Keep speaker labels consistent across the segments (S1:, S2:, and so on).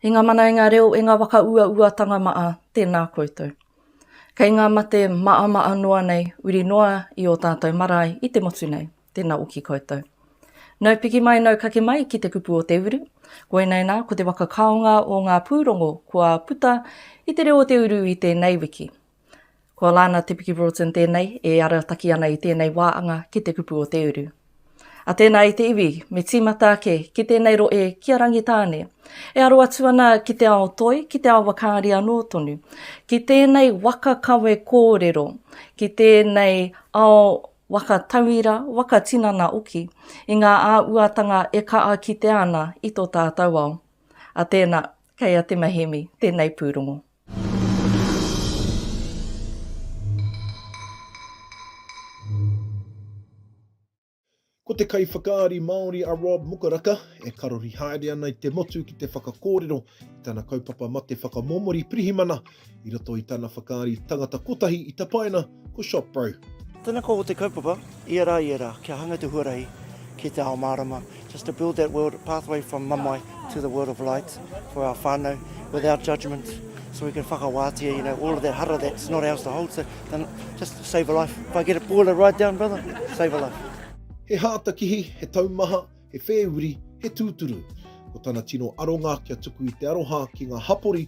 S1: He nga mana e nga reo e nga waka ua ua tanga maa, tena koutou. Kei nga mate maa maa noa nei uri noa i o tatou marae i te motu nei, tena oki koutou. Nau piki mai nau kake mai ki te kupu o te uru, koinei na ko te waka kaonga o nga purongo kua puta i te reo o te uru i tenei wiki, Ko Lana Te Piki Broughton tēnei e arataki ana i tēnei wāanga ki te kupu o te uru. A tēnā i te iwi, me tīmata ake ki tēnei rohe ki a Rangitāne. E aro atu ana ki te ao toi, ki te ao wakaari anō tonu. Ki tēnei waka kawe kōrero, ki tēnei ao waka tauira, waka tinana oki, i ngā āuatanga e kaa kitea ana i tō tātau ao. A tēnā, kei a Te Mehemi tēnei pūrongo.
S2: Ko te kaiwhakaari Māori a Rob Mukaraka e karori haere ana i te motu ki te whakakōrero i tana kaupapa mate whakamomori pirihimana i roto i tana whakaari tangata kotahi i tapaina ko Shop Bro. Tena koa o te
S3: kaupapa, ia ra ia ra, kia hanga te huarahi ki te ao marama, just to build that world pathway from mamae to the world of light for our whanau without judgement so we can whakawatia, you know, all of that hara that's not ours to hold, so just save a life. If I get a boiler ride down, brother, save a life. He hātakihi,
S2: he taumaha, he whēuri, he tūturu. Ko tana tino aronga kia tuku i te aroha ki ngā hapori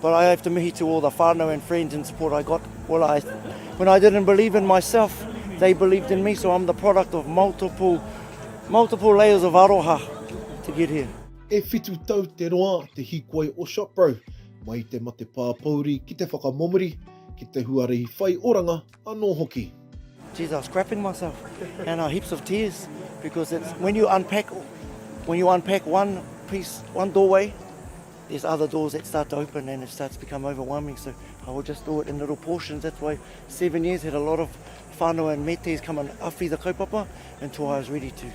S3: But I have to mihi to all the whanau and friends and support I got well I when I didn't believe in myself they believed in me so I'm the product of multiple multiple layers of aroha to get here. E whitu tau
S2: te roa te hīkoi o ShopBro, mai i te mate pāpouri ki te whakamomori, ki te huarahi whai oranga anō hoki. Geez, I was
S3: crapping myself and uh, heaps of tears because it's when you unpack when you unpack one piece, one doorway, there's other doors that start to open and it starts to become overwhelming. So I will just do it in little portions. That's why seven years had a lot of whānau and metes come and awhi the kaupapa until I was ready to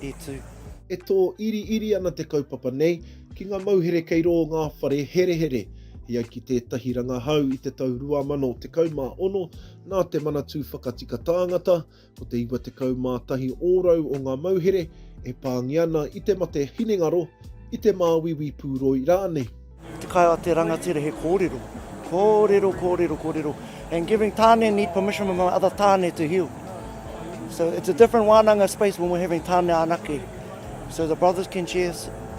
S3: e tū. E tō
S2: iri iri ana te kaupapa nei ki ngā mauhere kei rō ngā whare herehere. I ai ki tētahi rangahau i te tau 2016, nā te Manatū Whakatika Tāngata, ko te 91 ōrau o ngā mauhere e pāngia ana i te mate hinengaro, i te māuiui pūroi rānei. Te kai a te
S3: rangatira he kōrero, kōrero, kōrero, kōrero, and giving tāne need permission from other tāne to heal. So it's a different wānanga space when we're having tāne anake. So the brothers can share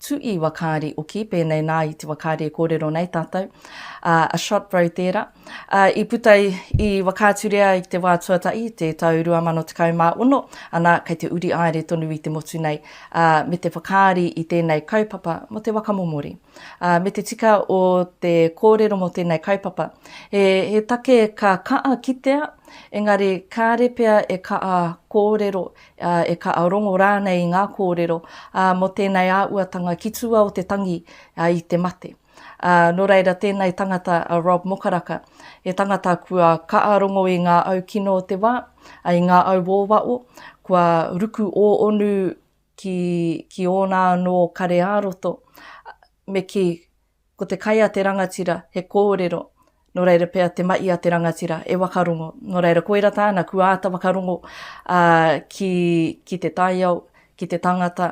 S1: Tu'i wakaari oki, pēnei nā i te wakaari e kōrero nei tātou, a Shot Bro tērā, ā, i puta i Whakaaturea ai ki te wā tuatahi i te tau 2016, ana, kei te uri aere tonu i te motu nei, ā, me te whakaari i tēnei kaupapa mō te waka momori. Ā, me te tika o te kōrero mō tēnei kaupapa, he, he take ka ka'a kitea, engari kāre pea e ka'a kōrero ā, e kaha rongo rānei i ngā kōrero, ā, mō tēnei āuatanga ki tua o te tangi, ā, i te mate. Ā, nō reira tēnei tangata a Rob Mokaraka, he tangata kua kaha rongo i ngā au kino o te wā, ā, i ngā au wōwaʻo, kua ruku ōonu ki, ki ōna anō kare ā-roto, me kī, Ko te kai a te rangatira, he kōrero, nō reira pea te mahi a te rangatira, e wakarongo. Nō reira, koira tāna, kua āta whakarongo ki te taiao, ki te tangata,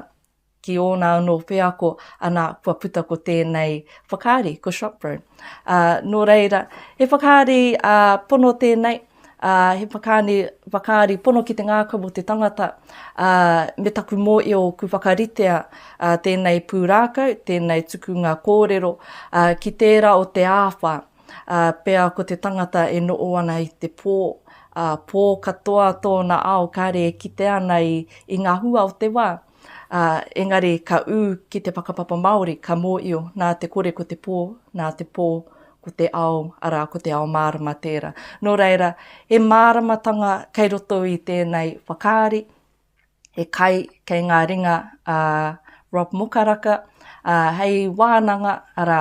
S1: ki ōna anō wheako, anā, kua puta ko tēnei whakaari, ko Shopbroom. Nō reira, he whakaari pono tēnei. ā, he whakaāne whakaari pono ki te ngākau mō te tangata, ā, me taku mōhio ku whakaritea ā, tēnei pūrākau, tēnei tukunga kōrero ā, ki tērā o te āwha, ā, pea ko te tangata e noho ana i te pō, ā, pō katoa tōna ao kāre e kite ana i, i ngā hua o te wā. ā, engari ka ū ki te whakapapa Māori, ka mōio, nā te kore ko te pō, nā te pō ko te ao, arā, ko te ao mārama tērā. Nō reira, he māramatanga kei roto i tēnei whakaari, he kai kei ngā ringa a Rob Mokaraka, ā, hei wānanga, arā,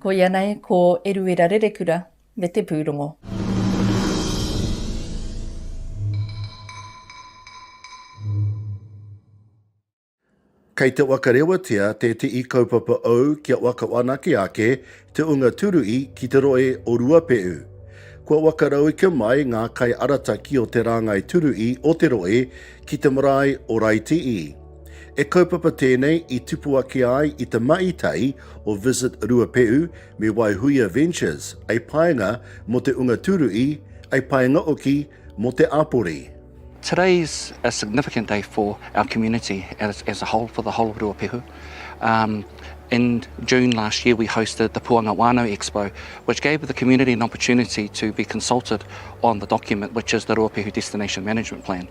S1: Koia nei ko Eruera Rerekura me te pūrongo.
S4: Kei te waka rewatia te tii kaupapa ou kia waka whanake ake te unga turui ki te roe o Ruapehu. Kua waka rauika mai nga kai arataki o te rangai turui o te roe ki te marae o Raitii. He kaupapa tēnei i tupu ake ai i te mahi tahi o Visit Ruapehu me Waihuia Ventures, ei paenga mō te Unga Tūruhi, ei paenga oki mō te Apori. Today's
S5: a significant day for our community as, as a whole, for the whole of Ruapehu. Um, in June last year we hosted the Puanga Wānau Expo, which gave the community an opportunity to be consulted on the document, which is the Ruapehu Destination Management Plan.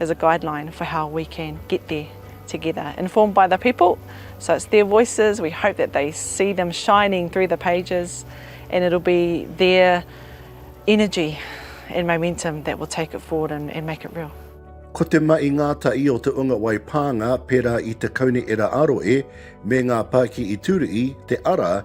S6: as a guideline for how we can get there together, informed by the people, so it's their voices, we hope that they see them shining through the pages and it'll be their energy and momentum that will take it forward and and make it real. Ko te mahi
S4: ngātahi o te unga wai pānga pērā i te kaunihera aro e me ngā pāki i tūruhi te ara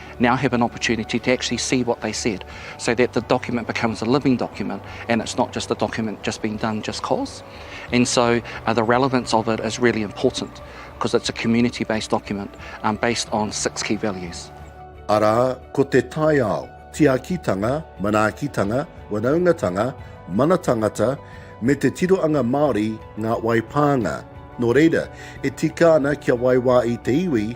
S5: now have an opportunity to actually see what they said so that the document becomes a living document and it's not just a document just being done just cause. And so uh, the relevance of it is really important because it's a community based document um, based on six key values. Ara
S4: ko te taiao, tiakitanga, manaakitanga, wanaungatanga, mana tangata, me te tiroanga Māori ngā waipānga. Nō reira, e tika ana kia waiwā i te iwi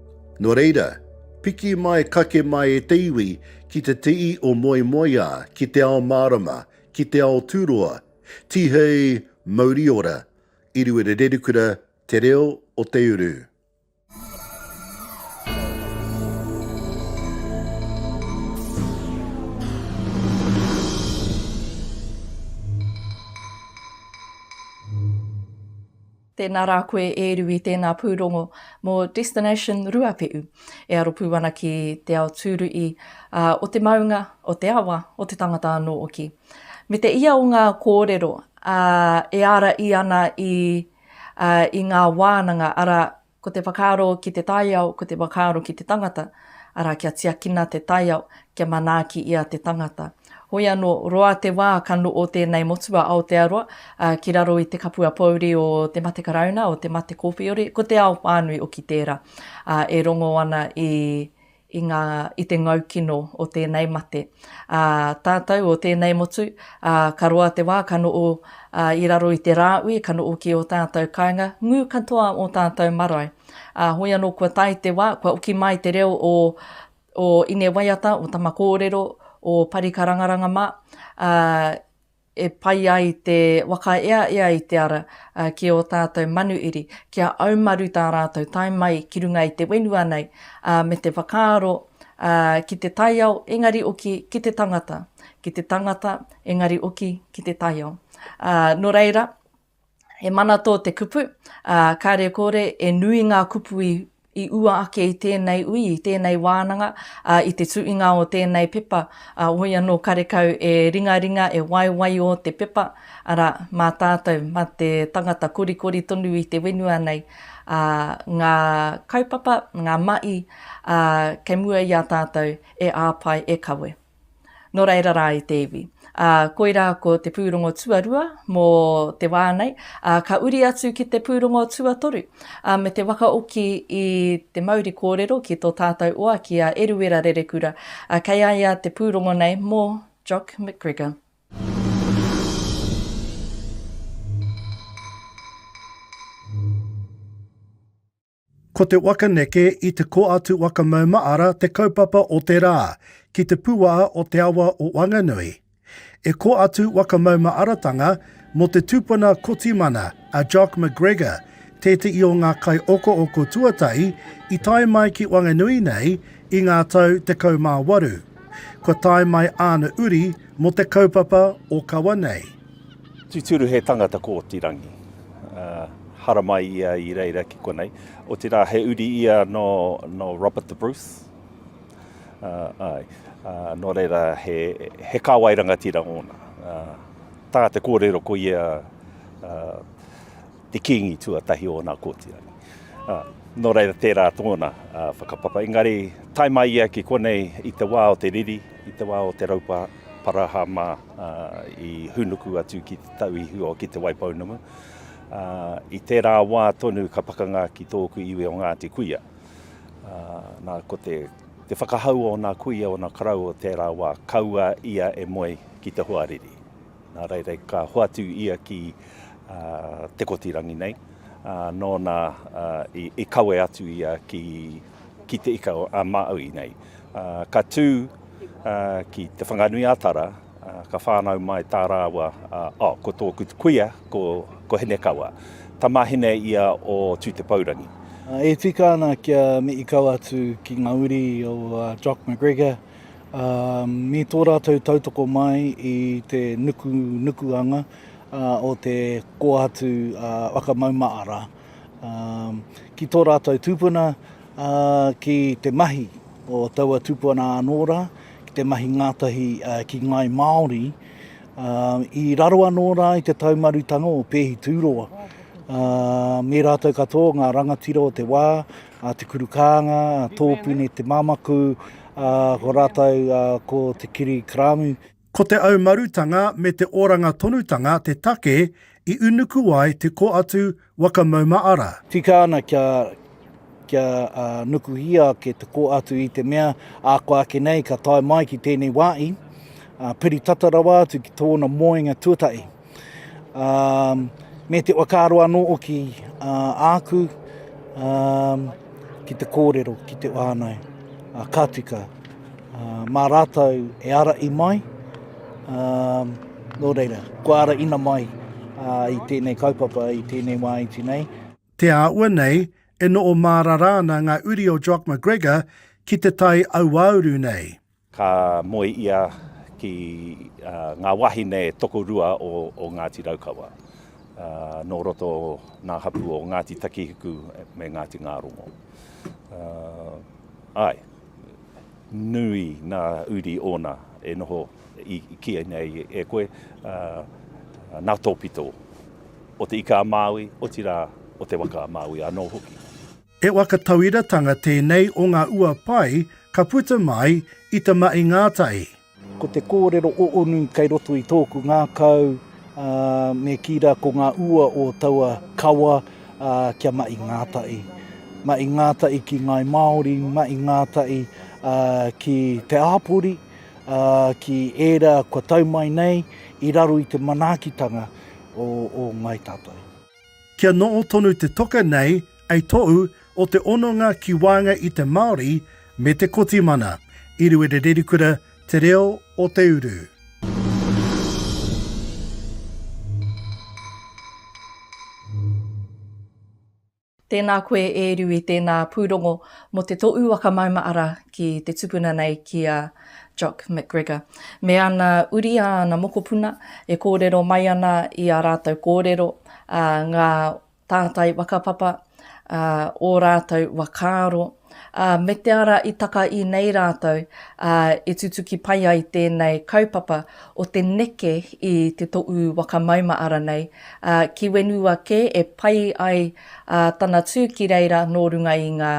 S6: Nō
S4: reira, piki mai kake mai e te iwi ki te tii o Moemoeā, ki te ao mārama, ki te ao tūroa, Tihei mauri ora, Iriwera Rerikura, Te Reo o te Uru.
S1: Tēnā rā koe e Rui tēnā pūrongo mō Destination Ruapehu e aro pū ana ki te ao tūruhi o te maunga, o te awa, o te tangata anō hoki. Me te ia o ngā kōrero e ārahi ana i ngā wānanga, arā, ko te whakaaro ki te taiao, ko te whakaaro ki te tangata, arā, kia tiakina te taiao, kia manaaki ia te tangata. Hoi anō, roa te wā ka no'o tēnei motu a Aotearoa ki raro i te kapua pōuri o te mate karauna, o te mate kōwhiori, ko te ao whānui oki tērā e rongo ana i i ngā i te ngau kino o tēnei mate. Ā, tātou o tēnei motu, ā, ka roa te wā ka noo ā, i raro i te rāui, ka noo ki ō tātou kāinga, ngū katoa ō tātou marae. Ā, hoi anō kua tae te wā, kua oki mai te reo o o Ine Waiata, o Tama Kōrero, o Parika Rangaranga mā, ā, e pai ai te wakaeaea i te ara ki ō tātou manuiri, kia aumaru tā rātou tae mai ki runga i te whenua nei, ā, me te whakaaro, ā, ki te taiao, engari oki ki te tangata, ki te tangata, engari oki ki te taiao. Ā, nō reira, He mana tō te kupu, ā, kāre kore e nui ngā kupu i, i ua ake i tēnei ui, i tēnei wānanga, ā, i te tuinga o tēnei pepa, ā, woi anō karekau e ringaringa, e waiwaio te pepa, arā, mā tātou, mā te tangata korikori tonu i te whenua nei, ā, ngā kaupapa, ngā mahi, ā, kei mua i a tātou e āpae, e kawe. Nō reira rā i te iwi. Ā, koirā ko te pūrongo tuarua mō te wā nei, ā, ka uri atu ki te pūrongo tuatoru, ā, me te wakaoki i te mauri kōrero ki tō tātou oa ki a Eruera Rerekura, ā, kei a ia te pūrongo nei mō Jock McGregor.
S4: Ko te waka neke i te Koatu Waka Maumaara te kaupapa o te rā, ki te puā o te awa o Wanganui. E Koatu Waka Maumaaratanga mō te tupuna Kotimana a Jock McGregor tētehi o ngā kai okooko tuatahi i tae mai ki Wanganui nei i ngā tau 18. Kua tae mai āna uri mō te kaupapa o kawa nei. Tūturu he
S7: tangata kōtirangi, haramai ia i reira ki konei, otirā he uri ia nō Robert the Bruce, āe, nō reira he kāwai rangatira ōna. Tā te kōrero ko ia te Kīngi tuatahi o ōna kōturangi. Ā, nō reira tērā tōna whakapapa. Engari, tae mai ia ki konei i te wā o te riri, i te wā o te raupa parahama i hūnuku atu ki te tau i hua ki Te Waipounamu, ā, i tērā wā tonu ka pakanga ki tōku iwi o Ngāti Kuia. Ā, nā, ko te, te whakahau o ōna kuia, ōna karau o tērā wā, kaua ia e moe ki te hoariri. Nā reira ka hoatu ia ki Te Kotirangi nei, nōna i kawe atu ia ki Te Ika-a-Māui nei. Ka tū ki Te Whanganui-a-Tara, ka whānau mai tā rāua, oh, ko tōku kuia, ko Hinekawa. Tamāhine ia o Tū-te-pourangi. E tika
S3: ana kia mihi kau atu ki ngā uri o Jock McGregor. me tō rātou tautoko mai i te nukunukuanga o te kōhatu whakamaumaara ki tō rātou tūpuna, ki te mahi o taua tūpuna anō rā, ki te mahi ngātahi ki ngāi Māori, i raro anō rā i te taumarutanga o Pēhi Tūroa, me rātou katoa ngā rangatira o te wā, a Te Kuru Kānga, a Tōpune Te Mamaku, a ko rātou ko Te Kiri Karamu. Ko te
S4: aumarutanga me te oranga tonutanga te take i unuku ai te ko atu waka mauma ara. Tika ana kia,
S3: kia nukuhia ake te ko atu i te mea a koa ake nei ka tae mai ki tēnei wāhi, piri tata rawa atu ki tōna moenga tuatahi. me te whakaaro anō hoki āku ki te kōrero, ki te whānau, ka tika, mā rātou e ara i mai, nō reira, kua ara ina mai i tēnei kaupapa, i tēnei wā iti nei. Te āhua
S4: nei, e noho mārara ana ngā uri o Jock McGregor ki te tai auauru nei. Ka moe
S7: ia ki ngā wāhine tokorua o Ngāti Raukawa, nō roto ngā hapū o Ngāti Takihiku me Ngāti Ngārongo. Āe, nui ngā uri ōna e noho i kīia nei e koe, nā tōpito o Te Ika-a-Māui, otirā o te waka a Māui anō hoki. He waka
S4: tauiratanga tēnei o ngā ua pai ka puta mai i Te Ma'i Ngātahi. Ko te kōrero
S3: oonu kei roto i tōku ngākau, me kī rā ko ngā ua o taua kawa kia ma'i ngātahi. Ma'i ngātahi ki ngāi Māori, ma'i ngātahi ki te āpori, ki ērā kua tau mai nei i raro i te manaakitanga o ngāi tātou. Kia noho
S4: tonu te toka nei ei tou o te ononga ki waenga i te Maori me te Kotimana, i Ruere Rerikura te reo o te uru.
S1: Tēnā koe e Rui, tēnā pūrongo mo te toʻu waka mauma ara ki te tupuna nei ki a. Jock McGregor, me ana uri a ana mokopuna, e kōrero mai ana i ā rātou kōrero, ā, ngā tātai whakapapa, ā, ō rātou whakaaro, ā, me te ara i taka i nei rātou, ā, e tutuki pai ai tēnei kaupapa o te neke i te toʻu waka mauma-ara nei, ā, ki whenua kē e pai ai ā, tana tū ki reira nō runga i ngā.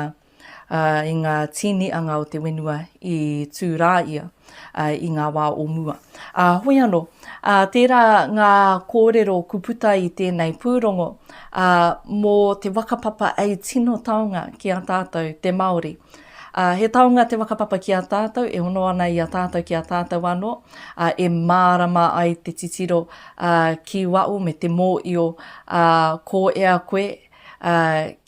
S1: ā, i ngā tīnianga o te whenua i tū rā ia i ngā wā o mua. Ā, hoi anō, ā, tērā ngā kōrero ku puta i tēnei pūrongo, ā, mō te whakapapa ei tino taonga ki a tātou te Māori. Ā, he taonga te whakapapa ki a tātou, e hono ana i a tātou ki a tātou anō, ā, e mārama ai te titiro, ā, ki waho me te mōio, ā, ko ea koe, ā,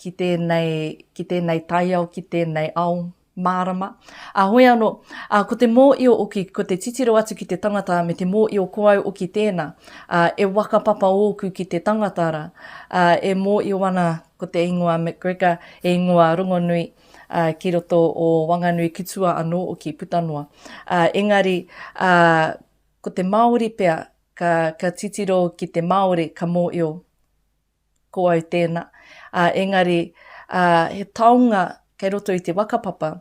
S1: ki tēnei, ki tēnei taiao, ki tēnei ao mārama. Ā, hoi anō, ā, ko te mōio oki, ko te titiro atu ki te tangata me te mōio ko au oki tēnā, ā, e waka papa ōku ki te tangata rā, ā, e mōio ana ko te ingoa McGregor, he ingoa rongonui, ā, ki roto o Wanganui ki tua anō oki, puta noa. Ā, engari, ā, ko te Māori pea, ka, ka titiro ki te Māori ka mōio ko au tēnā, ā, engari, ā, he taonga kei roto i te whakapapa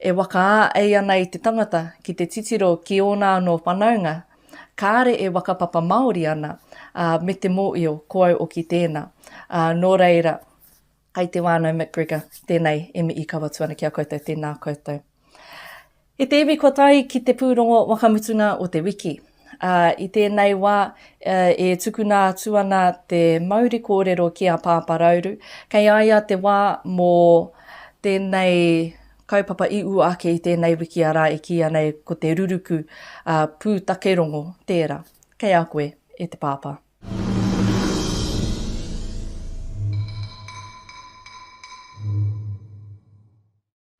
S1: e waka-ā-ei ana i te tangata ki te titiro ki ōna anō whanaunga, kāre e whakapapa Māori ana, ā, me te mōio, ko au oki tēnā. Ā, nō reira, kei te wānau McGregor, tēnei e mii kawatu ana ki a koutou, tēnā koutou. I te iwi kua tae ki te pūrongo wakamutunga o te wiki. Ā, i tēnei wā, e tukuna atu ana te mauri kōrero ki a Pāpā Rauru, kei a ia te wā mō tēnei kaupapa i ua ake i tēnei wiki arā e kīia nei ko te ruruku pūtake rongo tērā. Kei a koe, e te Pāpā.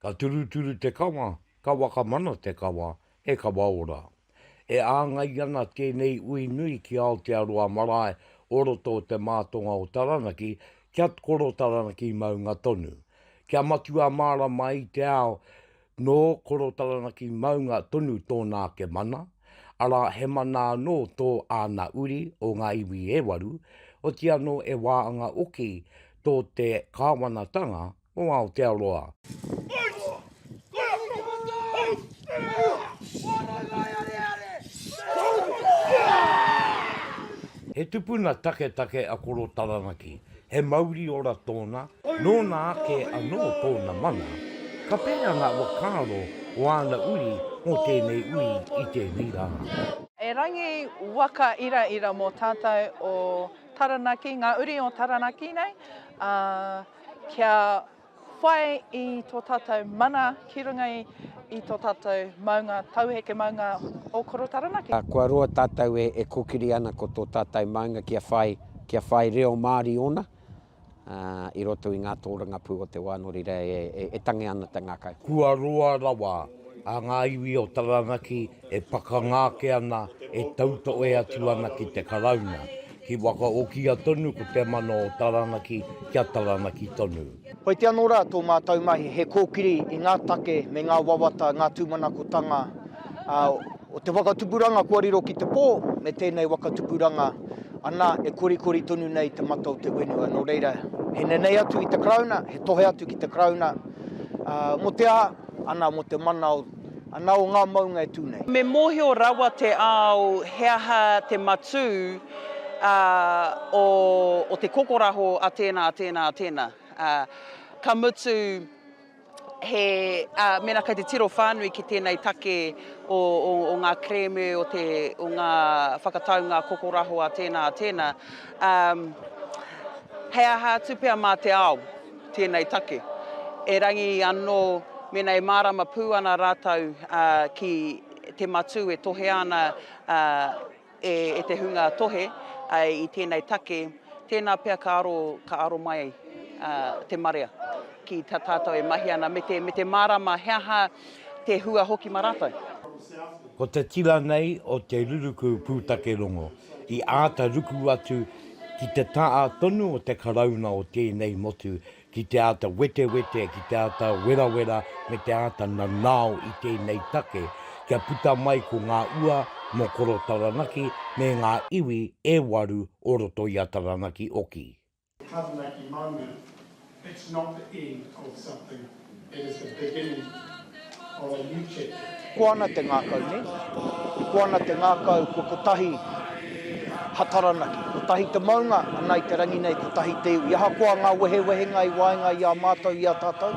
S8: Ka turuturu te kawa, ka wakamana te kawa, he kawa ora. E āngai ana tēnei ui nui ki Aotearoa marae o roto o Te Mātonga o Taranaki kia koro Taranaki maunga tonu. Kia matua mārama i te ao nō koro Taranaki maunga tonu tōna ake mana, arā he mana anō tō āna uri o ngā iwi e waru, otianō e wāanga oki tō te kāwanatanga o Aotearoa. He tupuna taketake a Koro Taranaki, he mauri ora tōna, nōna ake anō tōna mana. Ka pērā ngā whakaaro o āna uri mō tēnei uri i tēnei rā. Erangi
S6: waka iraira mō tātou o Taranaki, ngā uri o Taranaki nei, ā. kia whai i tō tātou mana ki runga i tō tātou maunga, tauheke maunga o Koro Taranaki. Kua roa tātou
S9: e kōkiri ana ko tō tātou maunga kia whai, kia whai reo Māori ōna i roto i ngā tōrangapū o te wā nō reira e tangi ana te ngākau. Kua roa rawa
S8: a ngā iwi o Taranaki e pakanga ake ana, e tautohe atu ana ki te Karauna. He whakaokia tonu ko te mana o Taranaki kia Taranaki tonu. Whai te anō rā tō
S10: mātou mahi he kōkiri i ngā take me ngā wawata, ngā tūmanakotanga o te whakatupuranga kua riro ki te pō me tēnei waka tupuranga ana
S11: e korikori tonu nei te mata o te whenua. Nō reira, he nenei atu i te Karauna, he tohe atu ki te Karauna mō te aha, ana mō te mana o. ana o ngā maunga e tū nei. Me mōhio rawa
S12: te ao he aha te matū o te kokoraho a tēnā, a tēnā, a tēnā. Ka mutu, mēnā kei te tiro whānui ki tēnei take o ngā kerēme, o ngā whakataunga kokoraho a tēnā, a tēnā, he aha atu pea mā te ao. tēnei take. Erangi anō, mēnā e mārama pū ana rātou ki te matū e tohea ana e te hunga tohe i tēnei take, tēnā pea ka aro, ka aro mai te marea ki tā tātou e mahi ana, me te, me te mārama he aha te hua hoki mā rātou. Ko
S8: te tira nei o te ruruku pūtake rongo, I āta ruku atu ki te taha tonu o te Karauna o tēnei motu ki te āta wetewete, ki te āta werawera me te āta nanao i tēnei take kia puta mai ko ngā ua mō Koro Taranaki me ngā iwi e waru o roto i a Taranaki oki. Taranaki
S13: maunga, it's not the end of something, it is the beginning of a new chapter. Ko ana te ngakau
S11: nei, ko ana te ngakau ko kotahi ha Taranaki, kotahi te maunga ana i te rangi nei, kotahi te iwi, ahakoa nga wehewehenga i waenga i a matou i a tatou,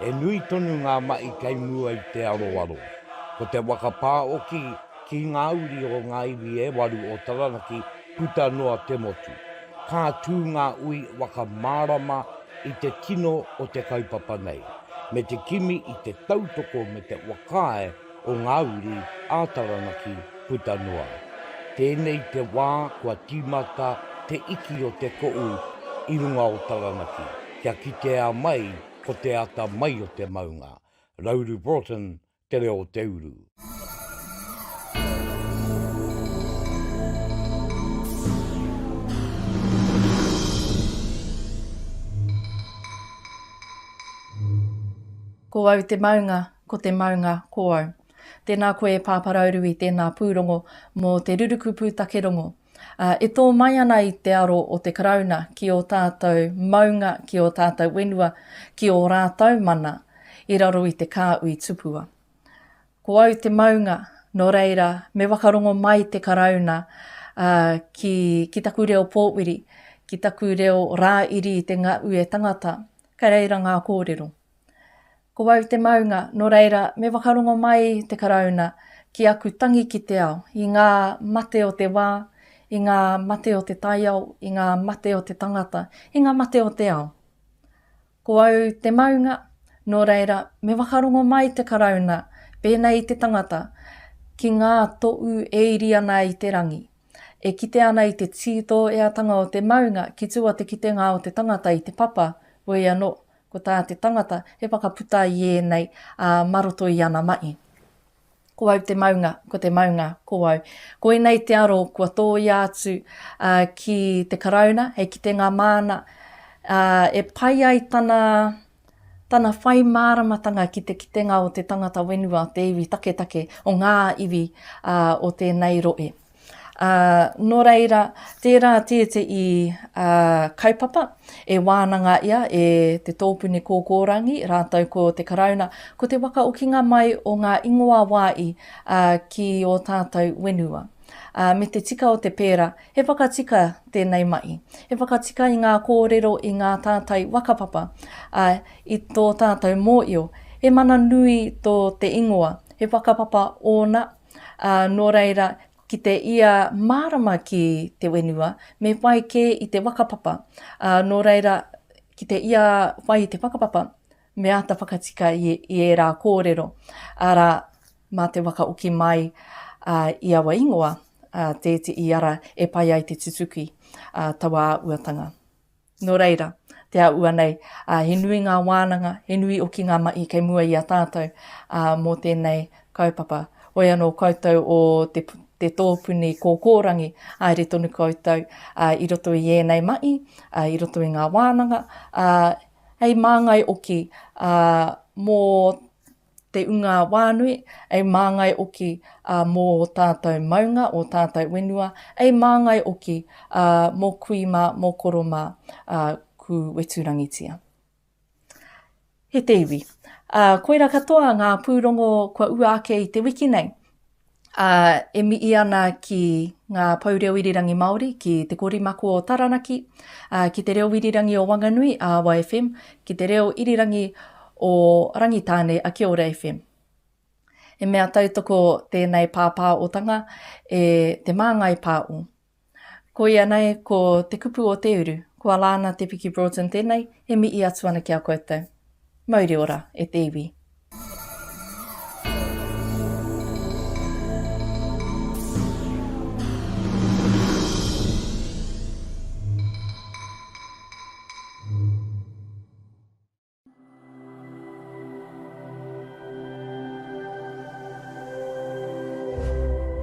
S8: He nui tonu ngā mahi kei mua i te aroaro. Ko te waka pā oki ki ngā uri o ngā iwi e waru o Taranaki puta noa te motu. Ka tū ngā ui waka mārama i te tino o te kaupapa nei, me te kimi i te tautoko me te whakaae o ngā uri a Taranaki puta noa. Tēnei te wā kua tīmata te iki o te koʻu i runga o Taranaki, kia kitea mai ko te ata mai o te maunga. Rauru Broughton, Te Reo o te Uru.
S1: Ko au te maunga, Ko te maunga ko au. Tēnā koe e Pāparaurui, tēnā pūrongo mō te ruruku pūtake rongo. E tō mai ana i te aro o te Karauna ki ō tātou maunga, ki ō tātou whenua, ki ō rātou mana i raro i te kāui tupua. Ko au te maunga, nō reira, me whakarongo mai te Karauna ki, ki taku reo pōwiri, ki taku reo rāiri i te ngaue tangata. Kei reira ngā kōrero. Ko au te maunga, nō reira, me whakarongo mai te Karauna ki aku tangi ki te ao, i ngā mate o te wā, i ngā mate o te taiao, i ngā mate o te tangata, i ngā mate o te ao. Ko au te maunga, nō reira, me whakarongo mai te Karauna, pēnei i te tangata, ki ngā tōu e iri ana i te rangi, e kite ana i te tītōeatanga o te maunga ki tua te kitenga o te tangata i te papa, wei anō, Ko tā te tangata, he whakaputa i ēnei, ā, mā roto i ana mahi. Ko au te maunga, ko te maunga, ko au. Koinei te aro kua tōia atu ā, ki te Karauna hei kitenga māna, ā, e pai ai tana, tana whai māramatanga ki te kitenga o te tangata whenua o te iwi taketake, o ngā iwi, ā, o tēnei rohe. Ā, nō reira, tērā tētehi ā, kaupapa e wānanga ia e te tōpuni kōkōrangi rātou ko te Karauna, ko te wakaokinga mai o ngā ingoa wāi ā, ki ō tātou whenua. Ā, me te tika o te pērā, he whakatika tēnei mahi. He whakatika i ngā kōrero i ngā tātai whakapapa, ā, i tō tātou mōio, he mana nui tō te ingoa, he whakapapa ōna, Ā, nō reira, ki te ia mārama ki te whenua, me whai kē i te whakapapa. Ā, nō reira, ki te ia whai i te whakapapa, me āta whakatika i, i ērā kōrero, arā, mā te whakaoki mai ā, i aua ingoa, ā, tēti i ara e pai ai te tutuki ā, taua āuatanga. Nō reira, te āhua nei, he nui ngā wānanga, he nui hoki ngā mahi kei mua i a tātou mō tēnei kaupapa. Hoi anō koutou o te tōpuni kōkōrangi, haere tonu koutou i roto i ēnei mahi, i roto i ngā wānanga, hei māngai hoki mō te ungā wānui, ei māngai oki ā mō ō tātou maunga, ō tātou wenua, ei māngai oki ā mō kui mā, mō koro mā ā kū weturangitia. He te iwi. Ā, koira katoa ngā pūrongo kua ua ake i te wiki nei. ā, e mihi ana ki ngā pou reo irirangi Māori, ki Te Kori Mako o Taranaki, ā, ki Te Reo Irirangi o Wanganui, Awa FM, ki Te Reo Irirangi o Rangitāne, a Kia Ora FM. He mea tautoko tēnei pāpāotanga e Te Māngai Pāo. Koia nei ko te kupu o te uru, ko Alana Te Piki Broughton tenei, e mihi atu ana ki a koutou. Mauri ora e te iwi.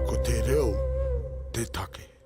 S1: Ko te reo te take.